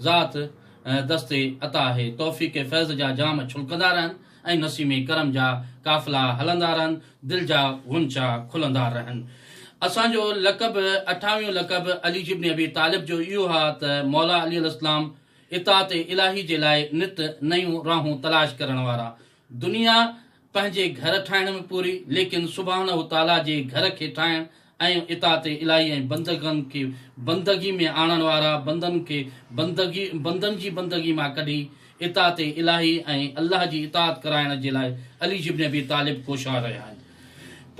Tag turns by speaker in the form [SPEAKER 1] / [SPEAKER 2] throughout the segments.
[SPEAKER 1] ذات ۽ دست عطا آهي. توفيق فيض جا جام ڇلڪندا رهن ۽ نسيم ڪرم جا قافلا هلندا رهن، دل جا غنچا کلندا رهن. اسان جو لقب، اٺاويون لقب عليج ابن ابي طالب جو اهو ها ته مولا علي الاسلام اطاعت الاهي جي لاء نت نيون راهون تلاش ڪرڻ وارا، دنيا پنهنجي گهر ٺاهڻ ۾ پوري ليڪن سبحانه تعاليٰ جي گهر کي ٺاهڻ ۽ اطاعت الٰهي ۽ بندگن کي بندگي ۾ آڻڻ وارا بندن کي بندگي بندن جي بندگي مان ڪڍي اطاعت الٰهي ۽ الله جي اطاعت ڪرائڻ جي لاء علي جبن ابي طالب ڪوشان رهيا آهن.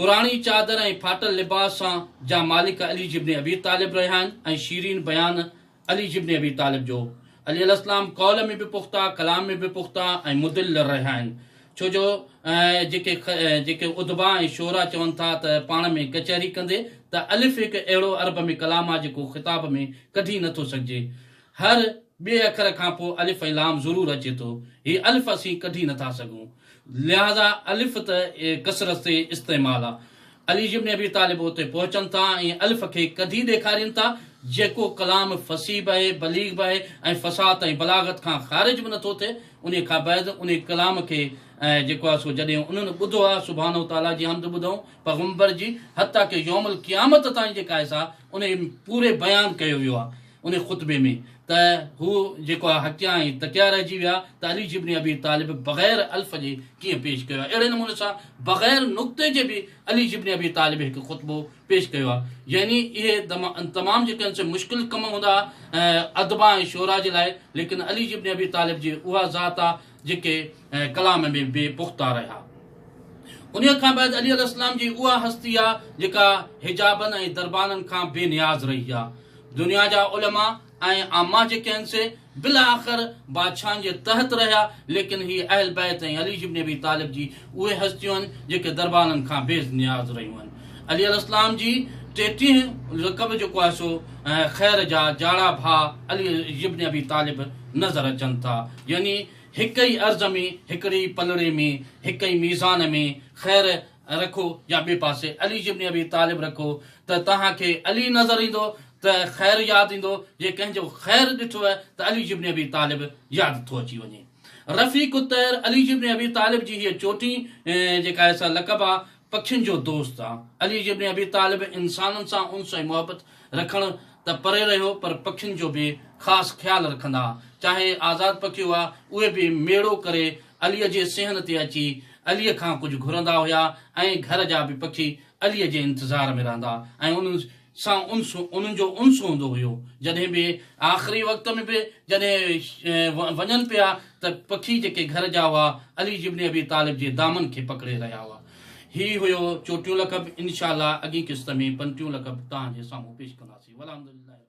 [SPEAKER 1] پراڻي چادر ۽ ڦاٽل لباس سان جا مالڪ علي جبن ابي طالب رهيا آهن ۽ شيرين بيان علي ابن ابي طالب جو عليه الاسلام قول ۾ به پختا، ڪلام ۾ به پختا ۽ مدل رهيا آهن. ڇو جو جيڪي جيڪي ادباء ۽ شعراء چون ٿا ته پاڻ ۾ ڪچهري ڪندي ته الف هڪ اهڙو عرب ۾ ڪلام آهي جيڪو خطاب ۾ ڪڍي نه ٿو سگهجي. هر ٻئي اکر کان پوء الف ۽ لام ضرور اچي ٿو. هي الف اسين ڪڍي نه ٿا سگهون. لهذا الف ته ڪثرت سي استعمال آهي. علي ابن ابي طالب اتي پهچن ٿا ۽ الف کي ڪڍي ڏيکارين ٿا، جيڪو ڪلام فصيح به آهي، بليغ به آهي ۽ فصاحت ۽ بلاغت کان خارج به نٿو ٿئي، انهي کانبعد انهي ڪلام کي جيڪو آهي سو جڏهن انهن ٻڌو آهي سبحانه وتعاليٰ جي حمد ٻڌائون، پيغمبر جي حتيٰ ڪه يوم القيامت تائين جيڪا آهي سا انهي ۾ پوري بيان ڪيو ويو آهي. ان خطبي ۾ ته هو جيڪو آهي حقيا ۽ تقيا رهجي ويا ته علي ابن ابي طالب بغير الف جي ڪيئن پيش ڪيو آهي اهڙي نموني سان بغير نقطي جي به علي ابن ابي طالب هڪ خطبو پيش ڪيو آهي يعني اهي تمام جيڪي آهن سي مشڪل ڪم هوندا آهن ادبا ۽ شعرا جي لاء ليڪن علي ابن ابي طالب جي اها ذات آهي جيڪي ڪلام ۾ بي پختا رهيا. انهيء کان بعد علي عليه السلام جي اها هستي آ جيڪا حجابن ۽ دربانن کان بي نياز رهي آ. دنيا جا علماء ۽ عامه جيڪي هن سي بالاخر بادشاهن جي تحت رهيا ليڪن هي اهل بيت ۽ علي جبن ابي طالب جي اهي هستيون آهن جيڪي دربارن کان بي نياز رهيون آهن. علي عليه السلام جي ٽيٽيهين لقب جيڪو آهي سو خير جا جاڙا ڀاء علي ابن ابي طالب نظر اچن ٿا يعني هڪ ئي عرض ۾ هڪڙي ئي پلڙي ۾ هڪ ئي ميزان ۾ خير رکو يا ٻئي پاسي علي ابن ابي طالب رکو ته توهان کي علي نظر ايندو ته خير ياد ايندو جي ڪنهن جو خير ڏٺوء ته علي ابن ابي طالب ياد ٿو اچي وڃي. رفيق الطير علي جي ابن ابي طالب جي هيء چوٽي جيڪا آهي سا لقب آ، پکين جو دوست آ. علي جي ابن ابي طالب انسانن سان انس ۽ محبت رکڻ ته پري رهيو پر پکين جو به خاص خيال رکندا ها. چاهي آزاد پکي هئا اهي به ميڙو ڪري علي جي صحن تي اچي علي کان ڪجهه گهرندا هيا ۽ گهر جا به پکي علي جي انتظار ۾ رهندا ۽ انس سان انس انهن جو انس هوندو هيو جڏهن به آخري وقت ۾ به جڏهن وڃن پيا ته پکي جيڪي گهر جا هئا علي ابن ابي طالب جي دامن کي پڪڙي رهيا هئا هي هيو چوٽيون لقب انشاء الله اڳين قسط ۾ پنٽيون لقب توهان جي سامهون پيش ڪنداسين والحمد لله رب العالمين.